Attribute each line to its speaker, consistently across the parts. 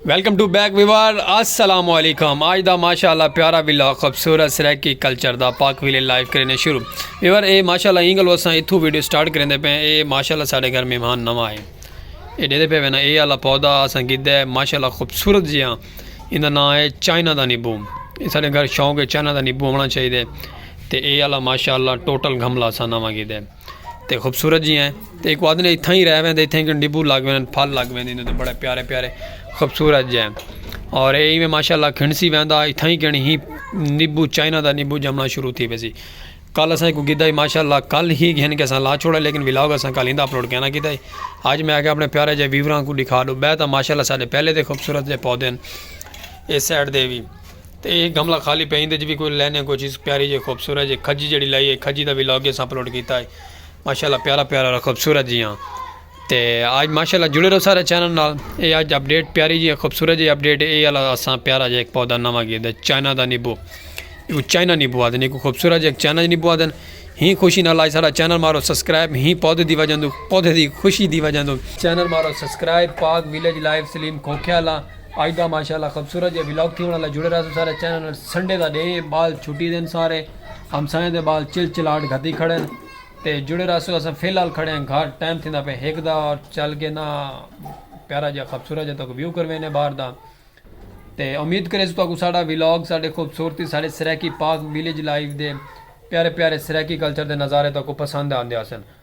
Speaker 1: Welcome to back viewers السلام علیکم آج دا ماشاءاللہ پیارا ویلا خوبصورت سریکی کلچر دا پاک ویلے لائیو کرنے شروع ویوار اے ماشاءاللہ انگل وساں اتھو ویڈیو سٹارٹ کرنے دے پہ اے ماشاءاللہ ساڑے گھر مہمان نوا ہے اے دے دے پہ وینا اے اللہ پودا اساں گید ہے ماشاءاللہ خوبصورت جیاں ہاں اندہ نا ہے چائنا دا نیبو اے ساڑے گھر شاؤں کے چائنا دا نیبو ہونا چاہی دے تے اے اللہ ماشاءاللہ ٹوٹل گھملا سا نوا گید ہے تے خوبصورت جی ہیں تے ایک آدھے نے اتھاں ہی رہ ویندے اتھاں ہی کن ڈبو لگ ویندے پھل لگ ویندے تے بڑے پیارے پیارے خوبصورت جی ہیں اور اے میں ماشاءاللہ کھنسی ویندا اتھاں ہی کن ہی نیبو چائنا دا نیبو جمنا شروع تھی ویسی کل اساں کو گدا ہی ماشاءاللہ کل ہی گھن کے اساں لا چھوڑا لیکن ولاگ اساں کل ہندا اپلوڈ کینا کیتا ہی آج میں آگے اپنے پیارے جے ویوراں کو دکھا دو بہتا ماشاءاللہ سارے پہلے دے خوبصورت دے پودے ہیں اس سائڈ دے بھی تے اے گملہ خالی پئے ایندے اچ وی کوئی لینیں کوئی چیز پیاری جیہی خوبصورت جیہی کھجی جیہڑی لائی اے کھجی دا وی لاگ اساں اپلوڈ کیتا اے ماشاءاللہ پیارا پیارا خوبصورت جیہاں تے آج ماشاءاللہ جڑے رہو سارے چینل نال اے آج اپڈیٹ پیاری جیہی خوبصورت جیہی اپڈیٹ اے اے آلا اساں پیارا جیہا ہک پودا نواں گھیدا اے چائنا دا نیبو ایکوں چائنا نیبو آکھدن ایکوں خوبصورت جیہا چائنا جیہا نیبو آکھدن ہیں خوشی نال آج ساڈا چینل مارو سبسکرائب ہیں پودے دی وجہ توں پودے دی خوشی دی وجہ توں چینل مارو سبسکرائب پاک ویلیج لائف سلیم کھوکھے آلا اج دا ماشاءاللہ خبصورت جیہا ولاگ تھیونڑ آلا جڑے رہسو سارے چینل نال سنڈے دا ڈینہہ ہے بال چھٹی دین سارے ہمسایاں دے بال چل چلاٹ گھدی کھڑن تے جڑے رہسو اساں فی الحال کھڑے ہیں گھر ٹائم تھیندا پے ہک دا اور چل کے نا پیارا جیہا خبصورت جیہا تاکو ویو کروینے باہر دا تے امید کرے سو تاکو ساڈا ولاگ ساڈے خوبصورتی ساڈے سرائیکی پاک ویلیج لائف دے پیارے پیارے سرائیکی کلچر دے نظارے تاکو پسند آندے ہسن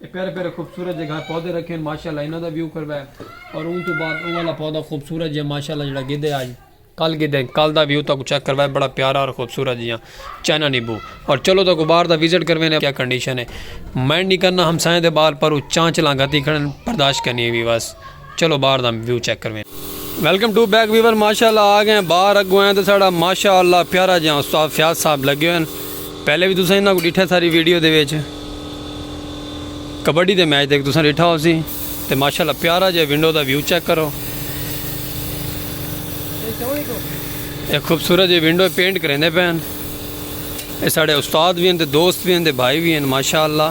Speaker 1: اے پیارے پیارے خوبصورت جے گھر پودے رکھے ہن ماشاءاللہ انہاں دا ویو کروا ہے اور اوں تو بعد او والا پودا خوبصورت جے ماشاءاللہ جڑا گدے آج کل گدے کل دا ویو تاکو چیک کروا ہے بڑا پیارا اور خوبصورت جیاں چائنا نیبو اور چلو تاکو باہر دا وزٹ کروے نے کیا کنڈیشن ہے مائنڈ نہیں کرنا ہمسائیں دے بال پر چانچ لانگاتی کھڑن برداشت کرنی ہے ویواس چلو باہر دا ویو چیک کرویں۔ ویلکم ٹو بیک ویور ماشاءاللہ آ گئے باہر اگوں ہیں تے ساڈا ماشاءاللہ پیارا جیاں استاد فیاض صاحب لگے ہوئے ہیں پہلے وی تساں انہاں کو ڈٹھے ساری ویڈیو دے وچ کبڈی دے میچ دے تساں ڈٹھا ہو سی تے ماشاءاللہ پیارا جے ونڈو دا ویو چیک کرو ایک خوبصورت جے ونڈو پینٹ کریندے پین اے ساڈے استاد وی ہیں تے دوست وی ہیں تے بھائی وی ہیں ماشاءاللہ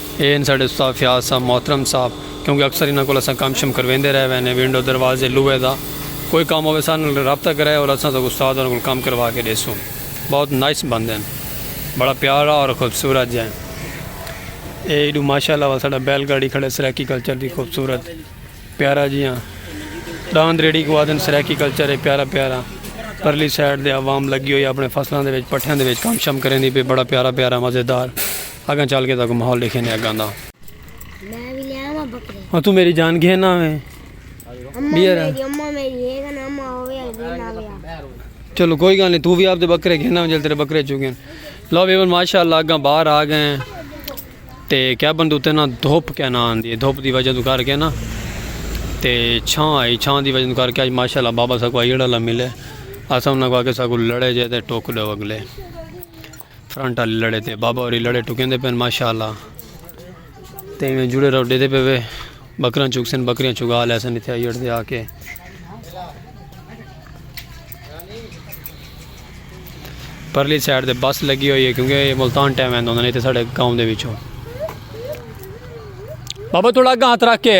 Speaker 1: اے ہن ساڈے استاد فیاض صاحب محترم صاحب کیونکہ اکثر انہاں کول اساں کم شم کرویندے رہ وینے ونڈو دروازے لوہے دا کوئی کم ہووے ساڈے نال رابطہ کرے اور اساں ساکوں استاد ہوراں کول کم کروا کے ڈیسوں بہت نائس بندے ہن بڑا پیارا اور خوبصورت جیں اے ایڈو ماشاءاللہ ول ساڈا بیل گاڑی کھڑے سرائیکی کلچر دی خوبصورت پیارا جیاں ڈاند ریڑی کو آدن سرائیکی کلچر اے پیارا پیارا پرلی سائیڈ دے عوام لگی ہوئی اپنے فصلاں دے وچ پٹھیاں دے وچ کم شم کریندی پی بڑا پیارا پیارا مزیدار اگاں چل کے تاکو ماحول دیکھے نے اگاں دا میں بھی لے آواں بکرے ہاں تو میری جان گھن آویں بیرا اماں میری ہے کنا اماں ہوے گھن آوے چلو کوئی گل نہیں تو بھی اپ دے بکرے گھن آویں جل تیرے بکرے چوگن لو ویور ماشاءاللہ اگاں باہر آ گئے تے کیا بندو تے نا دھوپ کیا نا آندی دھوپ دی وجہ تو کر کے نا تے چھاں آئی چھاں دی وجہ تو کر کے اج ماشاءاللہ بابا سا کو ایڑا لا ملے اساں انہاں کو آ کے سا کو لڑے جے تے ٹوک دو اگلے فرنٹ آلی لڑے تے بابا ہوری لڑے ٹکیں دے پین ماشاءاللہ تے میں جڑے رہو ڈے دے پے وے بکران چک سن بکریاں چگا لے سن اتھے ایڈ دے آ کے پرلی سائیڈ دے بس لگی ہوئی ہے کیونکہ ملتان ٹائم ہے نہیں تے ساڈے گاؤں دے وچوں بابا تھوڑا اگا ہاتھ رکھ کے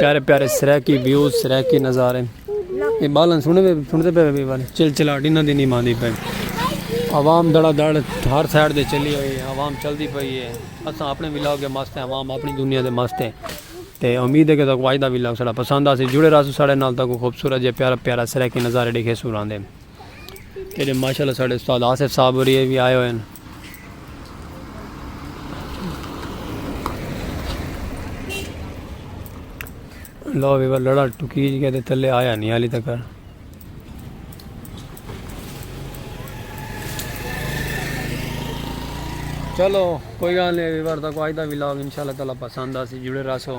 Speaker 1: پیارے پیارے سریکی ویوز سریکی نظارے یہ بالن سنے پہ سنتے پہ بھی والے چل چلا ڈینا دی نہیں ماندی پہ عوام دڑا دڑ ہر سائڈ دے چلی ہوئی ہے عوام چل دی پئی ہے اساں اپنے ولاگ کے مست ہیں عوام اپنی دنیا دے مست ہیں تے امید ہے کہ تک واجدہ ولاگ سڑا پسند آسی جڑے رہا سو سڑے نال تک خوبصورت جے پیارا پیارا سریکی نظارے دیکھے سو رہا دے جیڑھے ماشاءاللہ ساڈے استاد آصف صاحب ہوری اے وی آئے ہوئے ہن۔ لو ویور لڑا ٹکیج گیا تے تلے آیا نہیں حالی تک۔ چلو کوئی گال نہیں ویور تاکو آج دا ولاگ انشاءاللہ تعالی پسند آسی جڑے رہسو۔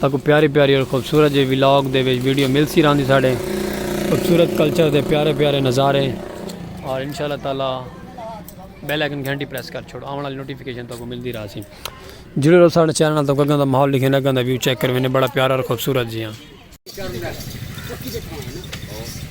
Speaker 1: تہاکوں پیاری پیاری اور خوبصورت جے ولاگ دے وچ ویڈیو ملسی رہندی ساڈے خوبصورت کلچر دے پیارے پیارے نظارے اور انشاء اللہ تعالی بیل آئیکن گھنٹی پریس کر چھوڑو آون والی نوٹیفیکیشن تہاکوں ملدی رہسی جڑے رہو ساڈے چینل نال تہاکوں اگاں دا ماحول لکھیندے اگاں دا ویو چیک کرویندے بڑا پیارا اور خوبصورت جیاں۔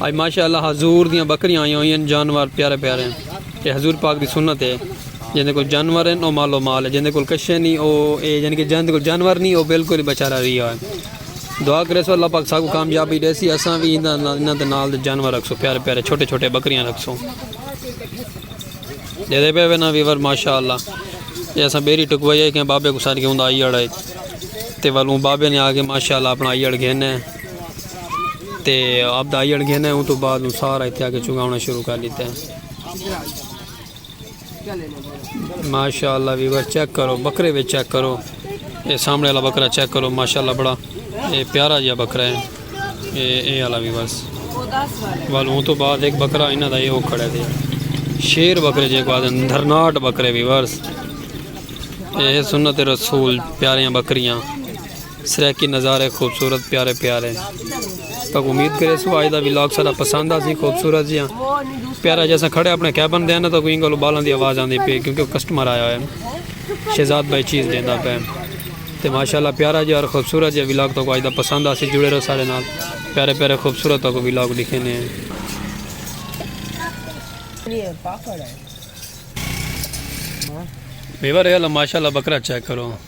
Speaker 1: آج ماشاءاللہ حضور دیاں بکریاں آئیاں ہوئی ہیں جانوار پیارے پیارے ہیں یہ حضور پاک دی سنت ہے جن کو جانور ہیں وہ مال و مال ہے جن کو کشے نہیں وہ اے جن کے جن کو جانور نہیں وہ بالکل بچارہ رہی ہے دعا کرے سو اللہ پاک ساکو کامیابی دے سی اساں بھی انہاں دے نال دے جانور رکھ سو پیارے پیارے چھوٹے چھوٹے بکریاں رکھ سو دے دے پہ وینا ویور ماشاءاللہ یہ اساں بیری ٹکوائی ہے کہ بابے کو سار کے ہوں دا آئی اڑائی تے والوں بابے نے آگے ماشاءاللہ اپنا آئی اڑ گھنے ہیں تے اب دائی اڑ گھنے ہوں تو بعد ہوں سارا اتیا کے چونگا ہونا شروع کر لیتے ہیں ماشاءاللہ ویور چیک کرو بکرے بھی چیک کرو اے سامنے والا بکرا چیک کرو ماشاءاللہ بڑا اے پیارا جا بکرا ہے اے اے والا ویور وال ہوں تو بعد ایک بکرا انہا دا یہ ہو کھڑے دے شیر بکرے جے کو آدھے دھرناٹ بکرے ویور اے سنت رسول پیاریاں بکریاں سرائیکی نظارے خوبصورت پیارے پیارے تک امید کرے سو آج دا ویلاگ سارا پسند آ سی خوبصورت جی پیارا جیسا کھڑے اپنے کیبن دینا تو کوئی گلو بالن دی آواز آندی پی کیونکہ کسٹمر آیا ہوئے شہزاد بھائی چیز دینا پہ تے ماشاءاللہ پیارا جی اور خوبصورت جی ویلاگ تو آج دا پسند آ سی جڑے رہو سارے نال پیارے پیارے خوبصورت تو ویلاگ لکھے نے میوہ رہے اللہ ماشاءاللہ بکرا چیک کرو